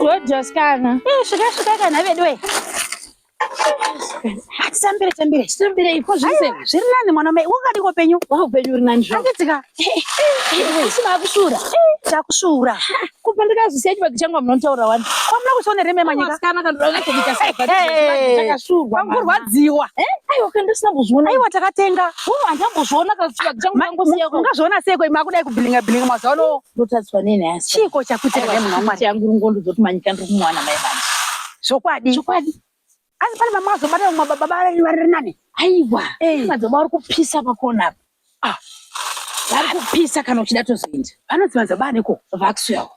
wodyoskana eh, svika svika kana veduwe atitambire tambire titambire ipo zvese zviri nani mwana mai wakadi kopenyu wakupenyu uri nani zvo andidzika isina akushura takushura kubva ndikazvisiya chibagi changu amunotaura wani kwamuna kushona reme manyika kana kandoakatoitasakashurwa kurwadziwa aiwa kandisina kuzviona aiwa takatenga handambozviona kachibagi changu ungazviona sei ko imakudai kubhilinga bhilinga mazuva ano Ndotadzwa nei nhasi? Chiiko chakuitika Aiwa, nemunhu waMwari? chiitira nguru ngondo dzoti manyika ndiri kumuwana mai vangu. Zvokwadi. Chokwadi. Asi pane vamwe vazobata vamwe baba vari vari nani? Aiwa. Eh. Madzibaba vari kupisa pakona apa. Ah. Vari kupisa kana uchida tozoenda. Vanonzi madzibaba aniko? Vakusuyawo.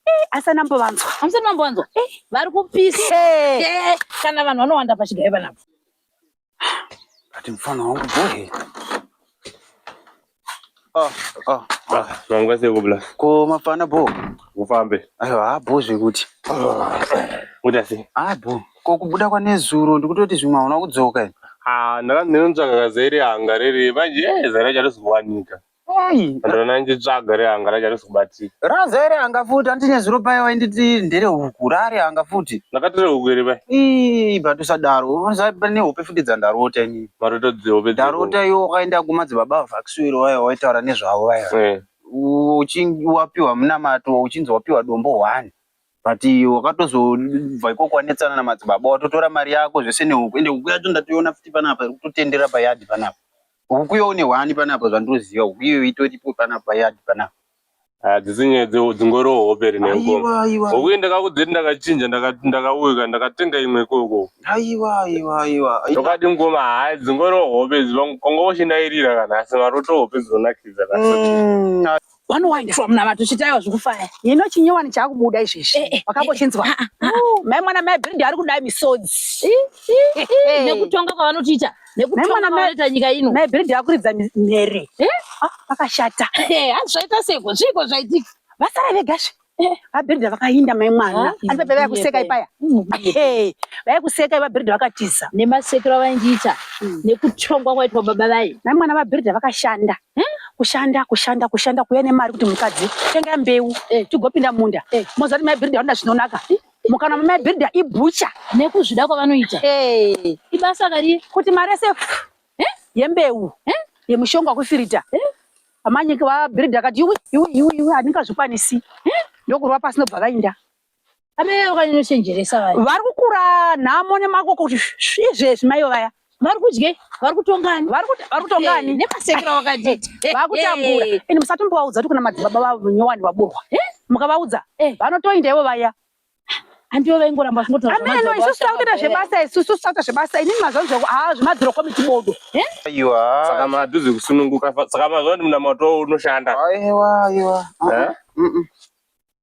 Eh, asi anambovanzwa. Hamusati mambowanzwa? Eh. Vari kupisa. Eh. Eh, Kana vanhu vanowanda pachigaiva napo. Ati mfana wangu bohe. Ah, ah. Ah, nangwa seko bla. Ko mafana bo. Kufambe. Ayo ha bo zvekuti. Kuti asi. Ah bo. Ko kubuda kwa nezuro ndikutoti zvimwe hauna kudzoka. Ah, ndakanzira ntsvaka kazere hanga rere manje eh, zara chatozowanika. Hey, Ndona nditsvaga re anga raja risikubatika. raza ere anga futi andine zuro paye wainditi ndere huku rare anga futi. Ndakatore huku iri pai. Ii, but usadaro. Unoziva pane hope futi dzandarota ini. Maroto dzihope dziri. Ndarota iwe wakaenda kumadzibaba vaVaxwiro vaya waitaura nezvavo vaya. Eh. uchinge wapiwa munamato uchinzi wapiwa dombo one but wakatozobva ikoko wanetsana namadzibaba watotora mari yako zvese nehuku ende huku yacho ndatoiona futi panapa iri kutotendera payadhi panapa Huku iyo une hwani panapa zvandoziva huku iyo itoripo panapa yadi panapa. Hadzisi ah, nyaya dzingori hope rine aiwa aiwa. Huku ndakakudzeti ndakachinja ndakauka ndakatenga imwe ikoko. Aiwa aiwa aiwa. Ndokati ngoma hayi dzingori hope dzongo kwangoshindairira kana asi maroto hope dzonakidza kana. Mm, vanowaniswa munamato chitaiwa zvikufaya hino chinyowani chakubuda izvezvi eh, eh, eh, wakambochinzwa ah, ah, ah. oh, mai mwana mai brindi ari kudai misodzi nekutonga kwavanotiita nekutonga kwavanoita nyika ino mai brindi akuridza mhere akashata hazvaita seko zviiko zvaitika vasara vega zve Eh, vabhiridha vakainda mai mwana aripe pevaya kuseka ipaya eh, vaya kuseka ivabhiridha vakatiza nemasekero avaindiita hmm. nekutongwa kwaitwa baba vaye mai mwana vabhiridha vakashanda eh? kushanda kushanda kushanda kuya nemari kuti mukadzi tenga mbeu tigopinda munda moziva kuti mai bhiridha vanoda zvinonaka mukana mamai bhiridha ibhucha nekuzvida kwavanoita ibasa kari kuti mari yese yembeu yemushonga wekufirita Amanyika vabuilder akati iwe iwe iwe iwe handingazvikwanisi ndokurwa pasi ndobva vainda amai vakanochenjeresa vaya vari kukura nhamo nemako kuti izvezvi maivo vaya vari kudyei vari kutongani vari kutongani eh, nemasekero wakati vakutambura ende musatombovaudza kuti kuna madzibaba vavo nyowani vaburwa mukavaudza eh. vanotoinda ivo vaya ameno isusu takuita zvebasa isusu titakuita zvebasa inini mazvanzi zvako haa zvemadziro komiti bodo saka madhuzi kusununguka saka mazuva ndi munamato unoshanda aiwa aiwa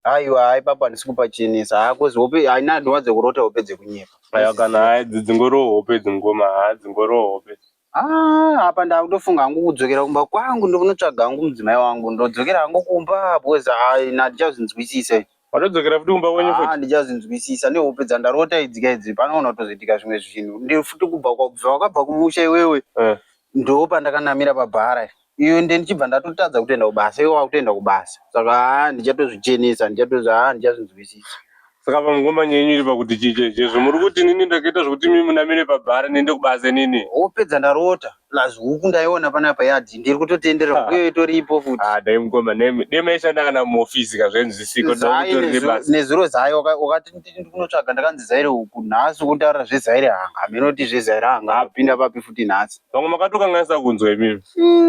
aiwa hai papa ndisi kupachinisa hakozi hope haina ndinwadze kurota hope dzekunyepa aiwa kana hai dzingoriwo hope dzingoma haa dzingoriwo hope Ah, apa ndakutofunga hangu kudzokera kumba kwangu ndokunotsvaga hangu mudzimai wangu ndodzokera hangu kumba because I handicazvinzwisise. Watodzokera futi kumba kwenyu futi? Ah, handicazvinzwisisa nehope dzandarota idzi ka idzi panoona kutozoitika zvimwe zvinhu. Ndiri futi kubva kwabva wakabva kumusha iwewe. Eh. Ndoo pandakanamira pabhara. iyo ende ndichibva ndatotadza kutoenda kubasa iwe wakutoenda kubasa saka haa ndichatozvichenesa ndichatozvi haa ndichazvinzwisisa Saka pamwe ngoma yenyu iri pakuti chii chaicho izvo muri kuti inini ndakaita zvekuti imi munamire pabhari ndiende kubasa inini. Hope dzandarota plus huku ndaiona panapa yadii ndiri kutotenderera huku iyoyo itoripo futi. Haa dai mukoma nemi dai maishanda kana muoffice ka zvainzwisika kuti Zai mutori nezuro, nebasa. nezuro Zai waka- wakati nditi ndiri kunotsvaga ndakanzi Zaire huku nhasi ukunditarira zveZaire hanga hameno kuti zveZaire hanga Hapo. apinda papi futi nhasi. vamwe makatokanganisa kunzwa imimi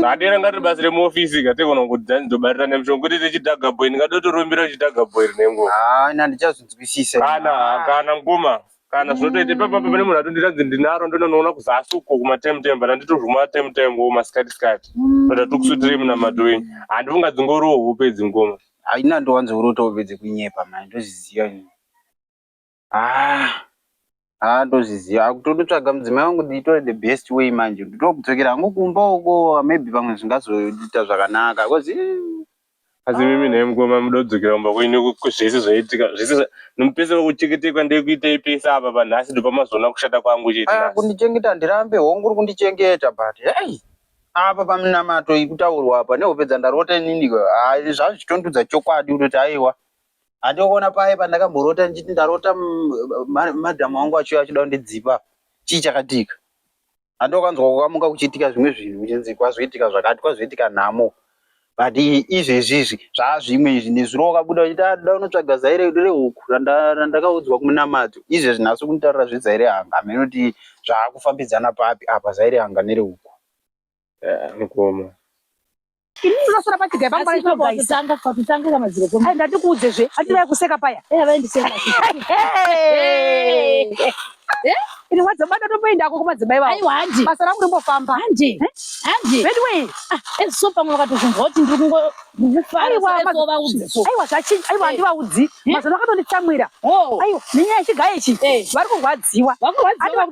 adera ngatibatsire muofisi kateona kuti dzani dzobatira nemushonga kuti tichidhaga boy ndingadotorumbira uchidhaga boy rine nguva haana ndichazvinzwisisa kana kana mkoma kana zvinotoita ipapa pane munhu atondiratidzi ndinaro ndononoona kuzasi uko kumatemtem but anditozvuma temtem wo masikati sikati but atikusutirei munamato wenyu handifunga dzingoroho hope dzingoma haina ndowanzourotohove dzekunyepa mani ndozviziva ini Ah, ah ndozviziva akutonotsvaga mudzimai wangu ndiitore the best way manje nditokudzokera hangu kumba uko maybe pamwe zvingazoita zvakanaka because asi mimi nhai mukoma muda kudzokera kumba kwenyu zvese zvaitika zvese zva- nomupese vakuchengetekwa ndekuitei pese apa panhasi ndopamazoona kushata kwangu chete Ah, nhasi kundichengeta handirambe hongu uri kundichengeta but hei apa paminamato ikutaurwa apa nehope dzandarota inini ah, zvazvitondudza chokwadi kutoti aiwa Handiko kuona paye pandakamborota ndichiti ndarota madhamu wangu achiuya achida kundidzipa chii chakatika. Handiko kanzwa kukamuka kuchiitika zvimwe zvinhu kuchinzi kwazoitika zvakati kwazoitika nhamo but izvezvi izvi zvaazvimwe izvi nezuro wakabuda wachiti adoda ah, unotsvaga zaire rehuku randakaudzwa kumunamadzo izvezvi nhasi kunditarira zvezaire hanga hameno kuti zvaakufambidzana papi apa zaire hanga nerehuku Eh, mukoma. Ini ndosara pachigai pangu pane chombo guys. Tanga kwa kutanga kama zero koma. Ai ndati kuudze zve. Ati vai kuseka paya. Eh vai ndiseka. Eh? Ini wadza bata tomboenda kwa kuma dzibai vao. Ai wandi. Basa rangu rimbofamba. Handi. Handi. Vedu wei. Ah, eh so pamwe vakatozvunzwa kuti ndiri kungo aiwa zvachinja aiwa handivaudzi mazano akatonditsamwira aiwa nenyaya chigaye ichi vari kurwadziwa vari kurwadziwa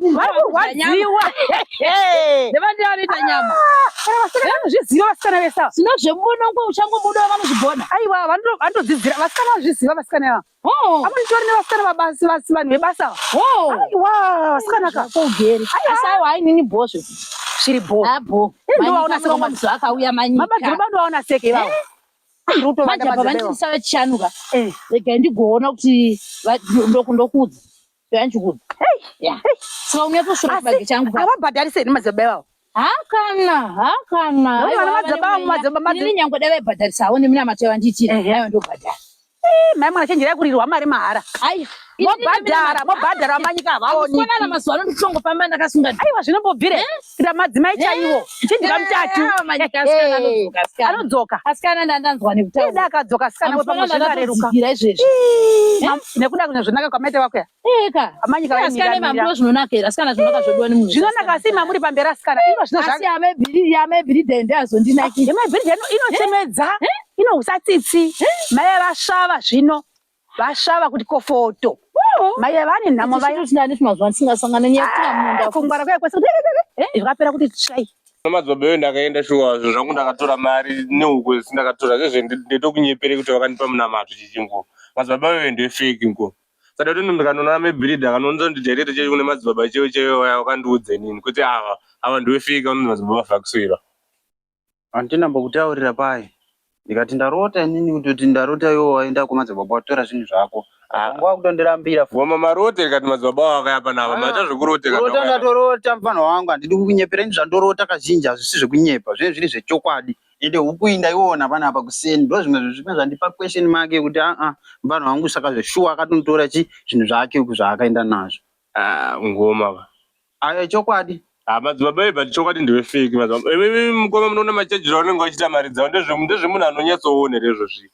vanozviziva vasikana vesa zvino zvemunongo uchangobuda vanozvigona aiwa vanotodzidzira vasikana vazviziva vasikana ava Oh. Apa nditori nevasikana vabasi vasi vanhu vebasa. Oh. Aiwa, vasikana ka. Ugere. Asi aiwa hainini bho zvekuti. Zviri bho. Abo. Eh, Ndo vaona seko mama. Madzibaba akauya manyika. Mama Dhorobha ndo vaona seke ivavo. Eh. Ruto vana madzibaba. Manje baba ndisawe chichanuka. Eh. Rega ndigoona kuti ndokuudza. Yanjikuru. Yeah. Saka unyatsosvira Asi, chibage changu. Havabhadharise here madzibaba ivavo? Hakana, hakana. Nekuti vana madzibaba avo madzibaba Ini madzibaba. nyangwe dai vaibhadharisawo nemi namato yavandiitira. Ehe. Aiwa ndobhadhara. Eh, Mai mwana chenjerai kuririrwa mari mahara. Ai. Mobhadhara, mobhadhara vamanyika havaoniki. Kufanana mazuva ano ndikutongofamba ndakasunga. Aiwa zvinombobvire. kuitira madzimai chaiwo chidya mutatu anodzoka asikana ndandanzwa nekutaura akadzoka asikana wepamozvinareruka izvezvi nekuda kune zvinaka kwamaita vakuya eka amanyika asikana mambo zvinonakira asikana zvinonaka zvodiwa nemunhu zvinonaka asi mamuri pamberi asikana ino zvino zvake asi amebiri amebiri dende azondinaki amebiri dende inochemedza inohusa tsitsi mai vasvava zvino vasvava kuti kofoto mai ava vane nhamo vayakungwara ah, kwakwaikapera kuti tsvai madzobe yo ndakaenda shuwa zvinhu zvangu ndakatora mari nehuku zisi ndakatora zvezve ndetokunyepere kuti vakandipa munamato chichingo madzibaba yo ndefeki nko sada kuti ndikanoona mebirida kanonza kuti jairete chaiyo kune madzibaba chaiyo chaiyo vaya vakandiudze nini kuti ava ava ndiwefeki vanonzi madzibaba vakusoira Andina mbokutaurira paye. Ndikati ndarota inini kutoti ndarota iwo waenda kumadzibaba watora zvinhu zvako. Ah, Wangu wakutondirambira futi. Mama marote rikati madzibaba wako yapa nava Ah, maita zvekuroteka Kurota ndoka- ndatorota mfana wangu handidi kukunyepera ini zvandorota kazhinji hazvisi zvekunyepa zvinenge zviri zvechokwadi ende huku iyi ndaiona panapa kuseni ndo zvimwe zvezvimwe zvandipa question mark yekuti aa mfana wangu saka zveshuwa akatonditora chi zvinhu zvake uku zvaakaenda nazvo Ah, ngoma va. Ayo chokwadi. Ah, madzibaba iye but chokwadi ndiwe fake madzibaba. Iwe mukoma munoona machajiro anenge achiita mari dzavo ndezve ndezve munhu anonyatsoona here izvo zvinhu.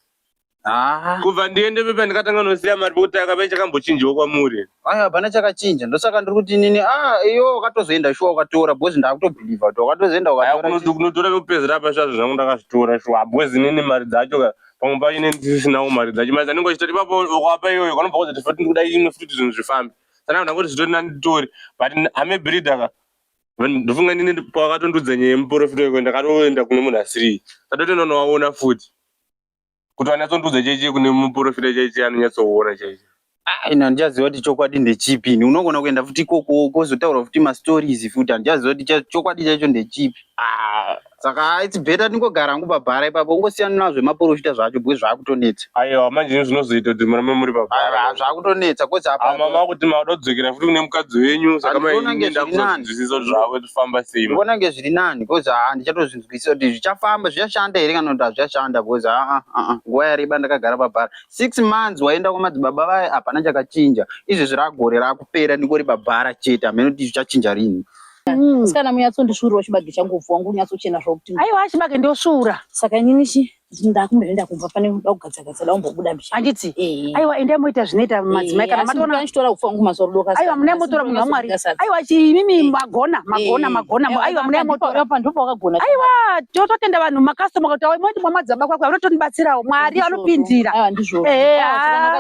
Ah. Kubva ndiende pepa ndikatanga nosiya mari pekuti akapene chakambochinjiwa kwamuri. Ayo hapana chakachinja ndosaka ndiri kuti nini ah iyo wakatozoenda shuwa ukatora because ndakutobhilivha kuti wakatozoenda Aya ukatora. kunoto- kunotora pekupedzera apa shuwa zvinhu zvangu ndakazvitora shuwa bwezi nini mari dzacho ka pamwe pacho neni ndisisinawo mari dzacho mari dzanenge wachitoti ipapo wakaapa iyoyo kanobva kwazoti futi ndikuda imwe futi kuti zvinhu zvifambe Sana kuda kuti zvitori nani tori but I'm a breeder ka. Ndofunga ndine pawakatondudza nyaya yemuporofita weko ndakatoenda kune munhu asiri. Ndatotoenda nowaona futi. Kuti wanatsondudza chaichi kune muporofita chaichi anonyatsoona chaichi. Ah, ina ndichaziva kuti chokwadi ndechipi ini unogona kuenda futi ikoko kozotaura futi mastories futi handichaziva kuti chokwadi chaicho ndechipi ah, saka its better ndingogara hangu pabhara ipapo ungosiyana nazvo zvemaporofita zvacho bwe zvaakutonetsa aiwa manje ini zvinozoita kuti murambe muri pabhara zvaakutonetsa kozi ama makuti makuda kudzokera futi kune mukadzi wenyu saka maindakuzozwisisa kuti zvavo zvifamba sei ndivona nge zviri nani kozi haa ndichatozvinzwisisa kuti zvichafamba zvichashanda here kana kuti hazvichashanda kozi aa aa nguva yareba ndakagara pabhara six months waenda kwamadzibaba vaye hapana chakachinja izvezvi ragore rakupera ndingori pabhara chete hameno kuti zvichachinja rini Mm. Musikana munyatsondisvuurirawo chibage changu upfu wangu unyatsochena zvokuti. Aiwa chibage ndosvuura. Saka inini chi ndakumbenda kubva pane kuda kugadza gadza da umbobuda mbicha. Handiti? Eh. Aiwa endai moita zvinoita madzimai kana matona. Asi ndichitora upfu wangu masoro doka. Aiwa mune motora munhu waMwari. Aiwa chi imimi magona magona magona. Aiwa mune motora pa ndipo wakagona. Aiwa totenda vanhu makasita mukati awo moti mwa madzaba kwako vanotonibatsirawo Mwari anopindira. Aiwa ndizvo. Eh.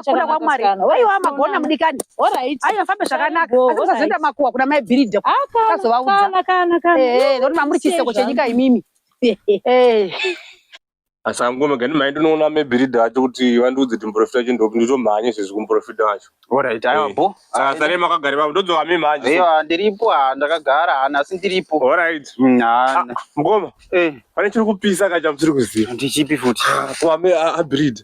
Kuna kwa Mwari. Aiwa magona mudikani. Alright. Ayo fambe zvakanaka. Asi musazoenda makuwa kuna mai Bhiridha. Akazovaudza. Kana kana kana. Eh, ndokuti mamuri chiseko chenyika imimi. Eh. Asi angome gani mai ndinoona mai Bhiridha vacho kuti vandiudze kuti muprofita wacho ndopi nditomhanye sezvo kumuprofita wacho. Alright, ayo eh. bo. Saka sare makagara baba ndodzoka mi manje. Ayo ah, ndiripo ah, ndakagara hana ah, asi ndiripo. Alright. Nah. Mm, Mukoma. Eh. Pane chiri kupisa kacha musiri kuziva. Ndichipi futi. Kwa mai Bhiridha.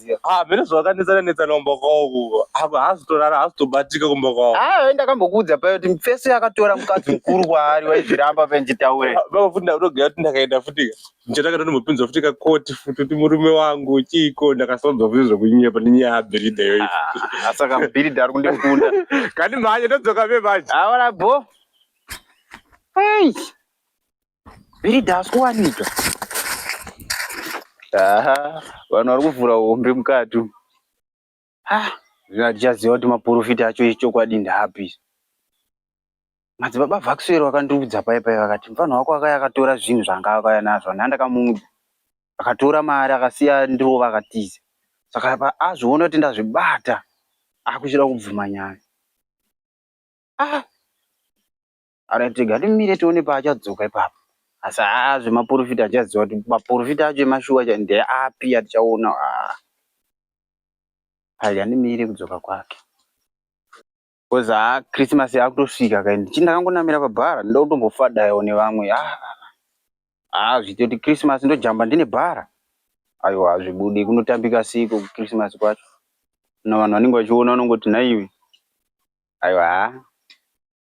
ndinoziva ah mene zvakanetsana netsana kumba kwavo kuko ako haazotorara haazotobatika kumba kwavo ah ndakambokuudza paye kuti mfeso yakatora mukadzi mukuru kwaari waizviramba pe nditaure ah, baba futi ndakutogaya kuti ndakaenda futi ndichatanga tondimbopinzwa futi kakoti futi kuti murume wangu chiiko ndakasaudza futi zvekunyepa nenyaya yabhiridha iyoyi ah, saka bhiridha ari kundikunda kani mhanye ndodzoka ve manje aona ah, bo Hey. Birida hasi kuwanika. Aha, vanhu vari kuvhura hombe mukati. Ah, zvino hatichaziva kuti maporofita acho echokwadi ndaapi. Madzibaba Vaxwell vakandiudza paye paye vakati mfana wako akaya akatora zvinhu zvanga akauya nazvo nhani ndakamuudza. Akatora mari akasiya ndirova akatiza. Saka apa azviona kuti ndazvibata akuchida kubvuma nyaya. Ah, Ara tega timire tione paachadzoka ipapo. Asi haa zvemaporofita achaziva kuti maporofita acho emashuwa chai ndeapi atichaona haa. Ari andimire kudzoka kwake. Because haa Christmas yakutosvika kai ndichi ndakangonamira pabhara ndoda kutombofadaiwo nevamwe haa. Haa zviite kuti Christmas ndojamba ndine bhara. Aiwa hazvibudi kunotambika seiko kuChristmas kwacho. Kana vanhu vanenge vachiona vanongoti nhaiwe. Aiwa haa.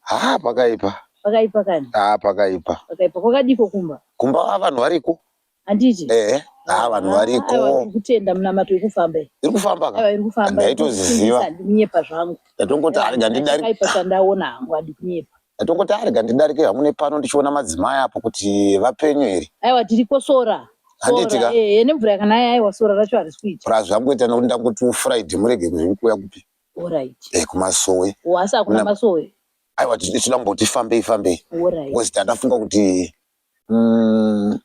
Haa pakaipa. Pakaipa kani? Haa pakaipa. Pakaipa kwakadiko kumba? Kumba haa vanhu variko. Handiti? Ehe. Haa vanhu variko. Aiwa iri kutenda munamato iri kufamba iyi. Iri kufamba ka? Aiwa iri kufamba. Ndaitoziziva. Handikunyepa zvangu. Ndatongoti arega ndidari. Pakaipa chandaona hangu handikunyepa. Ndatongoti arega ndidarike hangu nepano ndichiona madzimai apo kuti vapenyu here. Aiwa tiriko sora. Handiti ka? Ehe nemvura yakanaya aiwa sora racho harisi kuita. Prazvangoita nekuti ndangoti ufuraidi murege kuzvikuya kupi. Alright. Eh, kumasowe. Oh, asi hakuna Mna- masowe. Aiwa tisu tisu ndamboti fambei fambei. Alright. Because tandafunga kuti mm,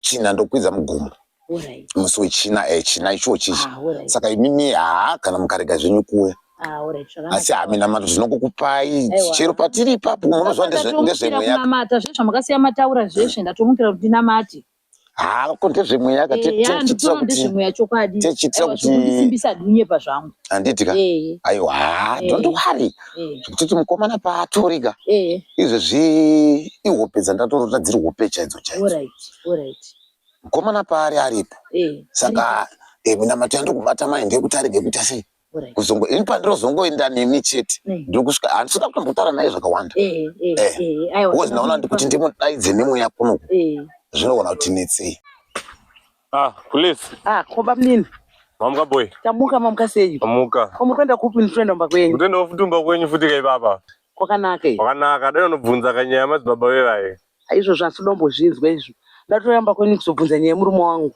china ndokwidza mugomo. Alright. Musi wechina eh china ichochi. Ah, alright. Saka imimi haa kana mukarega zvenyu kuwe. Ah, alright. Zvakanaka. Asi hame namato zvinokukupai Aiwa. chero patiri ipapo munozwa ndezve- Ndatomukira ndezvemweya. kunamata zveshe zvamakasiya mataura zveshe ndatomukira kuti ndinamate. haa ko ndezvemweya ka Eh, ya ndikutoona ndezvemweya chokwadi techiitira Aiwa, kuti zvekundisimbisa adinyepa zvangu handiti ka Eh, aiwa haa Eh. don't worry eh, zvekutoti mukomana paatori ka eh, izvezvi ihope dzandatorota dziri hope chaidzo chaidzo alright, alright. mukomana paari aripo Eh, saka eh, minamato yandokubata mai ndeyekuti arege kuita sei kuzongo ini pandinozongoenda nemi chete eh. ndokusvika handisi kuda kutombotaura naye zvakawanda eh, eh, bcause ndaona ndi kuti ndimudaidze nemweya kunoku zvinogona kuti netsei ah, please ah, koba mnini mamuka boy tamuka mamuka sei mamuka ko muri kuenda kupi nditoenda mumba kwenyu kutoendawo futi mumba kwenyu futi ka ipapa kwakanaka kwakanaka dai unobvunza kanyaya madzibaba vevaye izvozvo asi udombozvinzwa izvo ndatoyamba kwenyu kuzobvunza nyaya yemurume wangu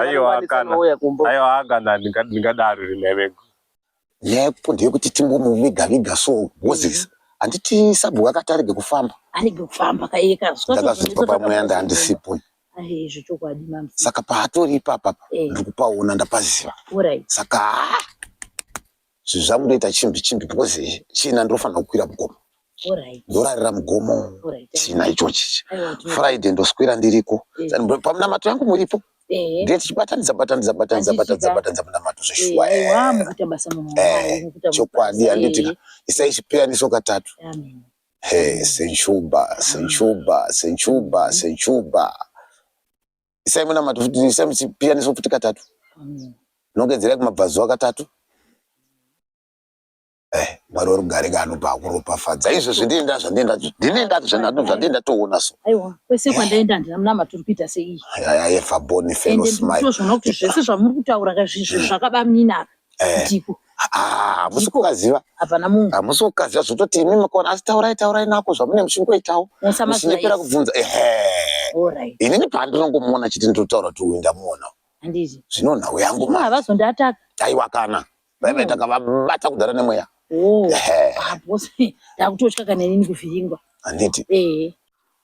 Aiwa kana. Aiwa kana ndingadaro rinevego. Yepo ndeyekuti timbomuviga viga so Moses. Mm. Handiti sabhuku akati arege kufamba. Arege kufamba kaiye kazwa. Ndakazvitwa pamweya ndandisipo. Zvechokwadi mama. Saka paatori ipapa eh. ndikupaona ndapaziva. Saka zvinhu zvangu ndoita chimbi chimbi because china ndinofanira kukwira mugomo ndorarira mugomo china ichochi friday ndoswera ndiriko pamunamato yangu muripo ndiye tichibatanidza batanidza batanidza batanidza batanidza munamato zveshuwa chokwadi handitika isai chipeyaniso katatu senchuba senchuba senchuba senchuba isai munamato futi isai muchipiyaniso futi katatu nongedzerai kumabvazuva katatu eh, mwari wari kugare kaanopa akuropafadza izvo zvindienda zvandienda ndinenda zvandienda toona so aiwa kwese kwandaenda handina munamato uri kuita seii yaya yefaboni felosimai zvese zvamuri kutaura kazvizvi zvakabamina apa Eh. Ndiko. Ah, musi Ndiko. kukaziva. Hapana munhu. Hamusi kukaziva zvototi imi makona asi taurai taurai nako zvamune muchingoitawo. Muchindipera Musamazvira. kubvunza. Ehe. All right. Inini pandinongomuona chete ndotaura kuti uyu ndamuona. Handizvo. Zvino nhau yangu Zvino ma. havazondiataka. Aiwa kana. Vaive Mm. takavabata kudhara nemweya. Oh. Ehe. Ah, boss. Ndakutotya kana inini kuvhiringwa. Handiti. Eh.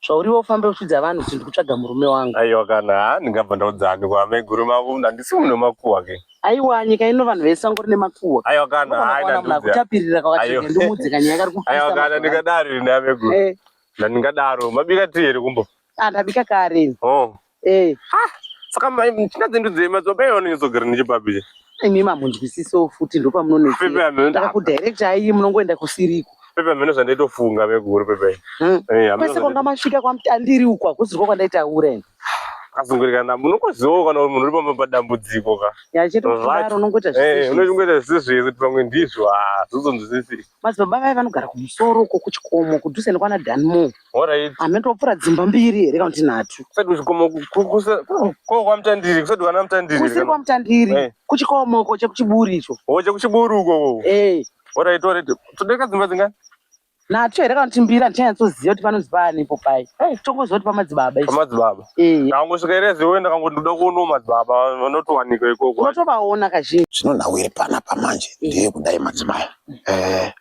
Zvauriwe ufambe uchidza vanhu kuti ndikutsvaga murume wangu. Aiwa kana haa ndingabva ndaudza ani kwa maiguru mavo handisi munhu wemakuhwa ke. Aiwa nyika ino vanhu vese vangori nemakuhwa. Aiwa kana haa ina ndudzi. Kutapirira kwakacheka ndimudze kanyaya kari kupisa. Aiwa kana ndingadaro ine ameguru. Eh. Ndandingadaro mabika tii here kumbo. Ah ndabika kare. Oh. Hey. Ha, saka mishina dzendu dzemadzimba iwo anonyatsogira nechepapi che? Imi mamunzwisisewo futi ndo pamunonetsera. Kudirector ayi munongoenda kusiriko. Pepe amene zvandaitofunga vekuru pepe. Hmm. Eh, Kwese kwanga masvika kwamutandiri uko hakuzivo kwandaitaura ini. Kazungurikana munokoziwo kana munhu uri pamba padambudziko ka. Yachito kudaro unongoita zvese. Eh, unongoita zvese zvese pamwe ndizvo. Ah, zvozonzwisisika. Madzibaba vaye vanogara kumusoro uko kuchikomo kudhuze nekwana Danmo. Alright. Hameno topfura dzimba mbiri here kana kuti nhatu. Kusati kuchikomo ku- ku- kusa- ku- ko kwamutandiri kusati kwana mutandiri. Kusiri kana- kwamutandiri. Eh. Kuchikomo uko chekuchiburi icho. Hoche kuchiburu uko uko. Eh. Alright, alright. Tode kadzimba dzingani? Nhatu here kana kuti mbiri handichanyatsoziva kuti panonzi paani ipo paye. Eh. Tongoziva kuti pamadzibaba ichi. Pamadzibaba. Eh. Ndakangosvika here ziwe ndakangoda kuonawo madzibaba vanotowanika ikoko. Unotovaona kazhinji. Zvinonhawiri panapa manje ndeye kudai madzimai. Eh,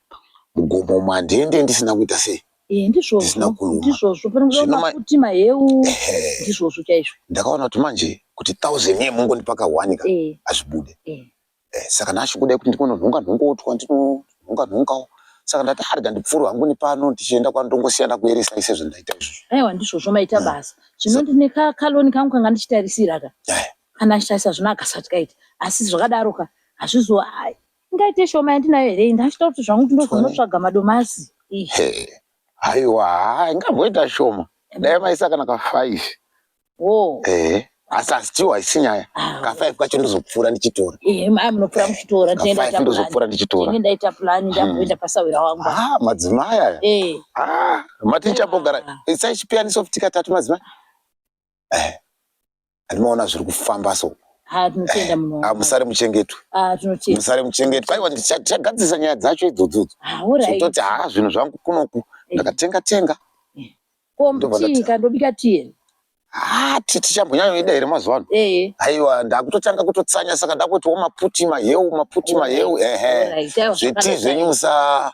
mugomo umu handiende ndisina kuita sei Eh, ndizvozvo Ndisina kuruma. ndizvozvo panongova Zvino ma- mafuti maheu Ehe. ndizvozvo chaizvo ndakaona kuti manje kuti thousand yee mungondipa kahwani ka Eh, hazvibude eh. Eh, saka ndachikuda kuti ndikononhonga nhongotwa ndinonhonga nhongawo saka ndati arega ndipfuure hangu nepano ndichienda kwano ndongosiyana kueresa ise zvandaita izvozvo aiwa ndizvozvo maita Mm. basa zvino ndine ka- kaloni kangu kanga ndichitarisira ka Eh. kana ndichitarisa zvino akasati kaita asi zvakadaro ka hazvizo ai, Ingaite shoma yandinayo here iyi ndachita kuti zvangu ndinozonotsvaga madomasi. Hey. Haiwa, haa, ingamboita shoma. Dai maisa kana ka five. Wo. Eh. Asi asi chiwa isinyaya. Ah. Ka five kacho ndozopfuura ndichitora. Eh, mai munopfuura muchitora. Ka five ndozopfuura ndichitora. Ini ndaita plan ndamboita hmm. pasawira wangu. Ah, madzimai aya. Eh. Ah, maticha bogara. Isai chipiyani soft katatu madzimai. Eh. Ndinoona zviri kufamba so. Ah, tinotenda eh, munhu. Ah, musare muchengetwe. Ah, tinotenda. Musare muchengetwe. Aiwa ndichagadzisa nyaya dzacho idzodzo. Ah, all right. Tototi ha zvinhu zvangu kunoku. Eh. Ndakatenga tenga. Eh. Ko mtii kandobika tii. Ah, titi chambonyanya ida here mazuva ano. Eh. Aiwa ndakutotanga kutotsanya saka ndakuti wo maputi maheu maputi maheu ehe. Zviti zvenyu musa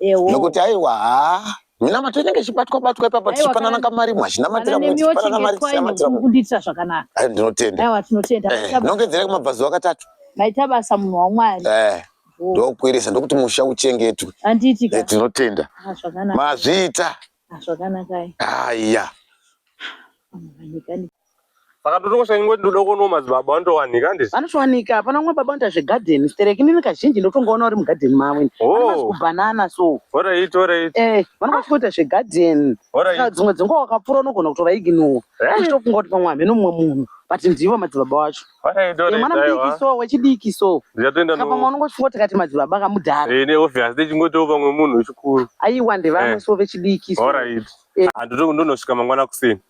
nekuti aiwa haa minamato inenge ichibatwa batwa ipapo tichipanana kamari imwe achinamatira mwechipanana mari tichinamatira kundiitira zvakanaka ndinotenda aiwa tinotenda eh, nongedzera kumabvazuva katatu maita basa munhu wamwari eh, ndokuirisa ndokuti musha uchengetwe anditi eh, tinotenda ah, mazviita Ah, zvakanaka eh. Ah, yeah. Vanowanika ndi- Vakatotokosha ingwe ndoda kuonawo madzibaba vanotowanika handisi? vanotowanika hapana umwe baba anoita zvegadheni stereki inini kazhinji ndotongoona uri mugadheni mavo ini Oh. vanomazi kubhanana so Alright, alright, eh vanenge vachitoita zvegadheni saka alright. dzimwe dzenguva wakapfuura unogona kutovaiginuwa Eh? uchitofunga kuti pamwe hameno mumwe munhu but ndivo madzibaba wacho mwana mudiki so wechidiki so kapamwe unongosvika tikati madzibaba kamudhara eh, neobvious techingotiwo pamwe munhu wechikuru aiwa ndevamwe eh. so vechidiki so alright eh. handototi ndonosvika mangwana kuseni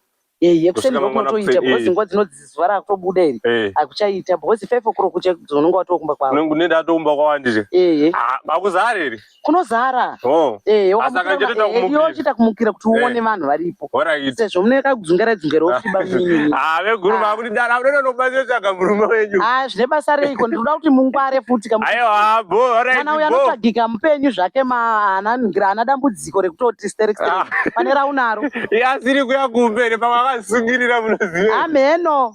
yekuseni ndokunotoita because nguva dzinodzi zuva rakutobuda iri akuchaita because five o'clock unonga watokumba kwavo unenge unoenda atokumba kwawandire akuzare ah, iri kunozara oh. eh, wakamuchiita eh, kumukira kuti eh. uone vanhu varipo sezvo mune kakudzungera dzungera wofiba munyini ah, veguru vakuti ah. dara unoda nobatsira tsvaga murume wenyu ah, zvine basa reiko ndinoda kuti mungware futi kamwana uya anotsvagika mupenyu zvake maanangira ana dambudziko rekutoti sterek pane raunaro iye asiri kuya kumberi pamwe akazisungirira munoziva ameno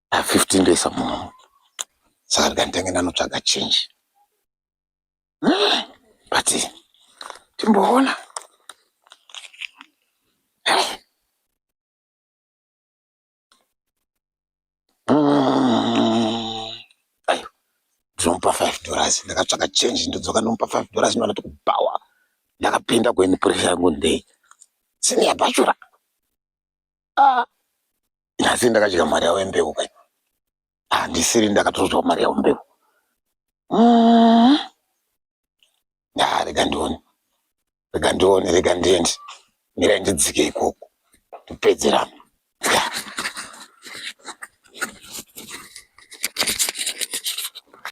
ah, 15 days amunomu saka ndikanditenge ndanotsvaga change ah, but timboona ndinomupa five dollars ndakatsvaka change ndodzoka ndomupa five dollars ndovana tikubhawa ndakapinda kueni pressure yangu ndei seniya bachura ah nhasi ndakadya mari yavo yembeu kai handisiri ndakatozwa mari yavo mbeu mm. ah rega ndione rega ndione rega ndiende mirai ndidzike ikoko ndipedzerana yeah.